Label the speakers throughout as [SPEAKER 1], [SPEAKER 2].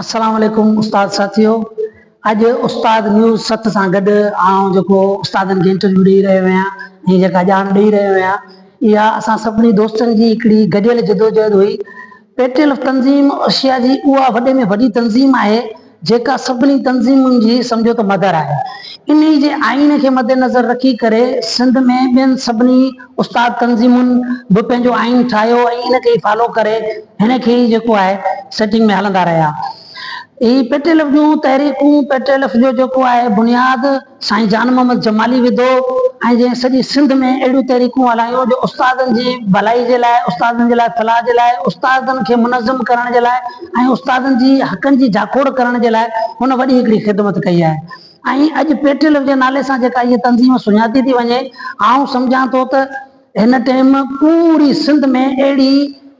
[SPEAKER 1] السلام عليڪم استاد ساٿيو اڄ استاد نيوز ست سان گڏ آئون جيڪو استادن کي انٽرويو ڏيئي رهيو آهيان ۽ جيڪا ڄاڻ ڏيئي رهيو آهيان اها اسان سڀني دوستن جي هڪڙي گڏيل جدوجهد هئي پيٽيلف تنظيم ايشيا جي اها وڏي ۾ وڏي تنظيم آهي جيڪا سڀني تنظيمن جي سمجهو ته مدر آهي. انهي جي آئين کي مدنظر رکي ڪري سنڌ ۾ ٻين سڀني استاد تنظيمن به پنهنجو آئين ٺاهيو ۽ ان کي ئي فالو ڪري هن کي ئي جيڪو آهي سيٽنگ ۾ هلندا رهيا. هي پيٽيلف جون تحريڪون پيٽيلف جو جيڪو آهي بنياد سائين جان محمد جمالي وڌو ۽ جنهن سڄي سنڌ ۾ اهڙيون تحريڪون هلايون جو استادن جي ڀلائي جي لاء، استادن جي لاء فلاح جي لاء، استادن کي منظم ڪرڻ جي لاء ۽ استادن جي حقن جي جاکوڙ ڪرڻ جي لاء هن وڏي هڪڙي خدمت ڪئي آهي ۽ اڄ پيٽليو جي نالي سان جيڪا هيء تنظيم سڃاتي ٿي وڃي آئون سمجهان ٿو ته هن ٽيم پوري سنڌ ۾ اهڙي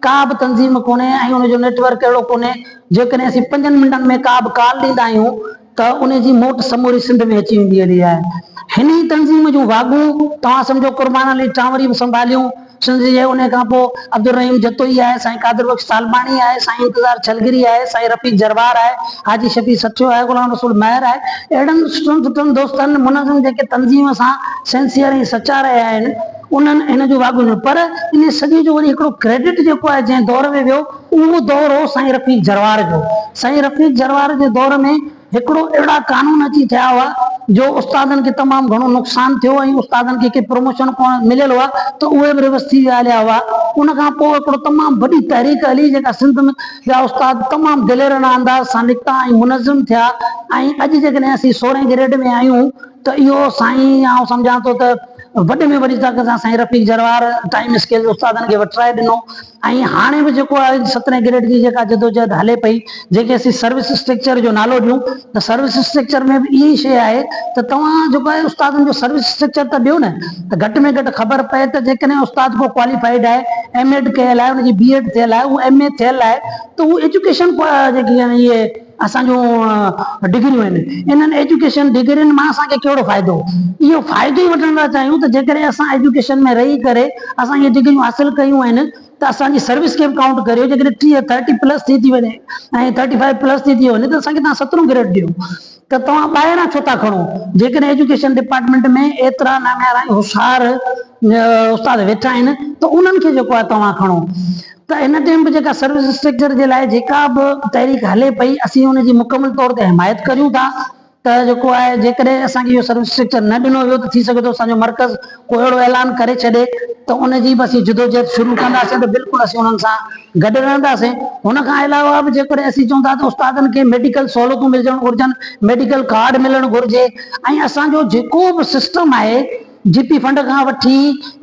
[SPEAKER 1] ڪا به تنظيم ڪونهي ۽ ان جو نيٽ ورڪ اهڙو ڪونهي جيڪڏهن اسين پنجن منٽن ۾ ڪا به ڪال ڏيندا آهيون ته ان جي موٽ سموري سنڌ ۾ اچي ويندي هلي آهي. هن ئي تنظيم جون واڳون توهان سمجهو قربان علي ٽانوري به سنڀاليون. سنڌ جي انهي کان پوء عبدالرحيم جتوئي آهي، سائين قادر بخش طالباڻي آهي، سائين انتظار ڇلگري آهي، سائين رفيق جروار آهي، حاجي شفيع سٺيو آهي، غلام رسول مهر آهي. اهڙن سٺن سٺن دوستن، منظم جيڪي تنظيم سان سنسيئر ۽ سچا رهيا آهن، انهن هن جون واڳون ڏنيون. پر انهي سڄي جو وري هڪڙو ڪريڊٽ جيڪو آهي جنهن دور ۾ ويو، اهو دور هو سائين رفيق جروار جو. سائين رفيق جروار جي دور ۾ هڪڙو اهڙا قانون اچي ٿيا هئا جو استادن کي تمام گهڻو نقصان ٿيو ۽ استادن کي ڪي پروموشن پڻ مليل هئا ته اهي به ريوس ٿي ويا هليا هئا. ان کان پوء هڪڙو تمام وڏي تحريڪ هلي جيڪا سنڌ ۾ جا استاد تمام دليرانه انداز سان نڪتا ۽ منظم ٿيا ۽ اڄ جيڪڏهن اسين سورهين گريڊ ۾ آهيون ته اهو سائين آئون سمجهان ٿو ته وڏي ۾ وڏي طاقت سان سائين رفيق جروار ٽائيم اسڪيل جي استادن کي وٺرائي ڏنو. ۽ هاڻي به جيڪو آهي سترهين گريڊ جي جيڪا جدوجهد هلي پئي جنهن کي اسين سروس اسٽرڪچر جو نالو ڏيون ته سروس اسٽرڪچر ۾ به اها ئي شيء آهي ته توهان جيڪو آهي استادن جو سروس اسٽرڪچر ته ڏيو نه ته گهٽ ۾ گهٽ خبر پئي ته جيڪڏهن استاد ڪو ڪواليفائيڊ آهي ايم ايڊ ڪيل آهي ان جي بي ايڊ ٿيل آهي اهو ايم اي ٿيل آهي ته اهو ايجوڪيشن جيڪي آهن اهي اسان جون ڊگريون آهن، انهن ايجوڪيشن ڊگرين مان اسان کي ڪهڙو فائدو؟ اهو فائدو ئي وٺڻ ٿا چاهيون ته جيڪڏهن اسان ايجوڪيشن ۾ رهي ڪري اسان اهي ڊگريون حاصل ڪيون آهن ته اسان جي سروس کي به ڪائونٽ ڪريو جيڪڏهن ٽيهه، ٿرٽي پلس، ٿي ٿي وڃي ۽ ٿرٽي فائيو پلس ٿي ٿي وڃي ته اسان کي توهان سترهون گريڊ ڏيو ته توهان ٻاهران ڇو ٿا کڻو؟ جيڪڏهن ايجوڪيشن ڊپارٽمينٽ ۾ ايترا ناميارا ۽ هوشيار استاد ويٺا آهن ته انهن کي جيڪو آهي توهان کڻو. ته هن ٽيم به جيڪا سروس اسٽرڪچر جي لاء جيڪا به تحريڪ هلي پئي اسين ان جي مڪمل طور تي حمايت ڪريون ٿا ته جيڪو آهي جيڪڏهن اسان کي اهو سروس اسٽرڪچر نه ڏنو ويو ته ٿي سگهي ٿو اسان جو مرڪز ڪو اهڙو اعلان ڪري ڇڏي ته ان جي به اسين جدوجهد شروع ڪنداسين ته بلڪل اسين انهن سان گڏ رهنداسين ان کان علاوه به جيڪڏهن اسين چون ٿا ته استادن کي ميڊيڪل سهولتون ملجڻ گهرجن ميڊيڪل ڪارڊ ملڻ گهرجي ۽ اسان جو جيڪو به سسٽم آهي جي پي فنڊ کان وٺي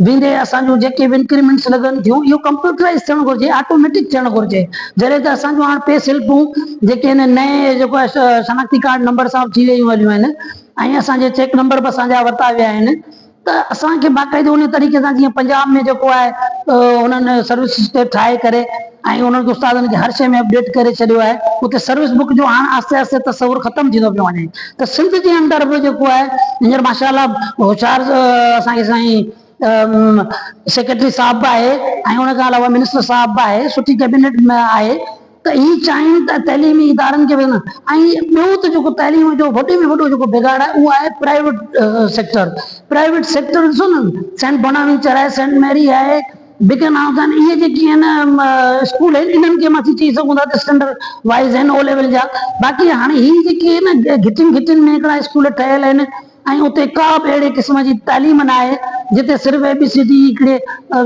[SPEAKER 1] ويندي اسان جون جيڪي به انڪريمينٽس لڳن ٿيون اهو ڪمپيوٽرائيز ٿيڻ گهرجي آٽوميٽڪ ٿيڻ گهرجي جڏهن ته اسان جون هاڻ پي سلپون جيڪي هن نئين جيڪو آهي شناختي ڪارڊ نمبر سان به ٿي ويون هليون آهن ۽ اسان جي چيڪ نمبر به اسان جا ورتا ويا آهن ته اسان کي باقاعدو ان طريقي سان جيئن پنجاب ۾ جيڪو آهي انهن سروسز کي ٺاهي ڪري ائين انهن استادن کي هر شيء ۾ اپڊيٽ ڪري ڇڏيو آهي. اتي سروس بڪ جو هاڻ آهستي آهستي تصور ختم ٿيندو پيو وڃي ته سنڌ جي اندر به جيڪو آهي هينئر ماشاء الله هوشيار اسان کي سائين سيڪريٽري صاحب به آهي ۽ ان کان علاوه منسٽر صاحب به آهي سٺي ڪيبنيٽ آهي ته هي چاهين ته تعليمي ادارن کي به ۽ ٻيو ته جيڪو تعليم جو وڏي ۾ وڏو جيڪو بگاڙ آهي اهو آهي پرائيويٽ سيڪٽر پرائيويٽ سيڪٽر ڏسو نه سينٽ بوناوينچر آهي سينٽ ميري آهي بيگن آئون ٿا اهي جيڪي آهن اسڪول آهن انهن کي مان ٿي چئي سگهون ٿا ته اسٽينڊرڊ وائيز آهن او ليول جا باقي هاڻي هي جيڪي آهن گهٽين گهٽين ۾ هڪڙا اسڪول ٺهيل آهن ۽ اتي ڪا به اهڙي قسم جي تعليم نه آهي جتي صرف اي بي سي ڊي هڪڙي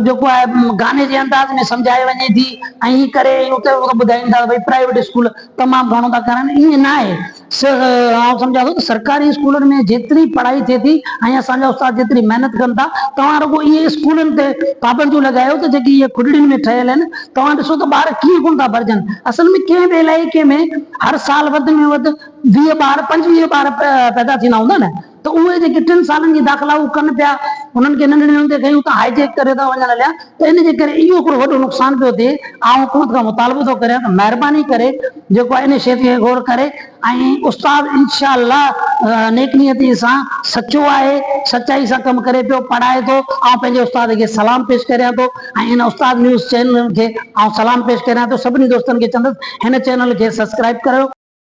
[SPEAKER 1] جيڪو آهي گاني جي انداز ۾ سمجهائي وڃي ٿي ۽ هي ڪري اتي ٻڌائين ٿا ڀئي پرائيويٽ اسڪول تمام گهڻو ٿا ڪرن ائين نه آهي آئون سمجهان ٿو ته سرڪاري اسڪولن ۾ جيتري پڙهائي ٿئي ٿي ۽ اسان جا استاد جيتري محنت ڪن ٿا، توهان رڳو اهي اسڪولن تي پابنديون لڳايو ته جيڪي اهي کڏڙين ۾ ٺهيل آهن، توهان ڏسو ته ٻار ڪيئن ڪونه ٿا ڀرجن. اصل ۾ ڪنهن به علائقي ۾ هر سال وڌ ۾ وڌ ويهه ٻار، پنجويهه ٻار پيدا ٿيندا هوندا نه؟ ته اهي جيڪي ٽن سالن جي داخلا هو ڪن پيا انهن کي ننڍڙين هوندي کان ئي اتان هائي جيڪ ڪري ٿا وڃن هليا ته ان جي ڪري اهو هڪڙو وڏو نقصان پيو ٿئي آئون حڪومت کان مطالبو ٿو ڪريان ته مهرباني ڪري جيڪو آهي ان شيء تي غور ڪري ۽ استاد انشاء الله نيڪ نيتي سان سچو آهي سچائي سان ڪم ڪري پيو پڙهائي ٿو آئون پنهنجي استاد کي سلام پيش ڪريان ٿو ۽ ان استاد نيوز چينل کي آئون سلام پيش ڪريان ٿو سڀني دوستن کي چوندس هن چينل کي سبسڪرائب ڪريو.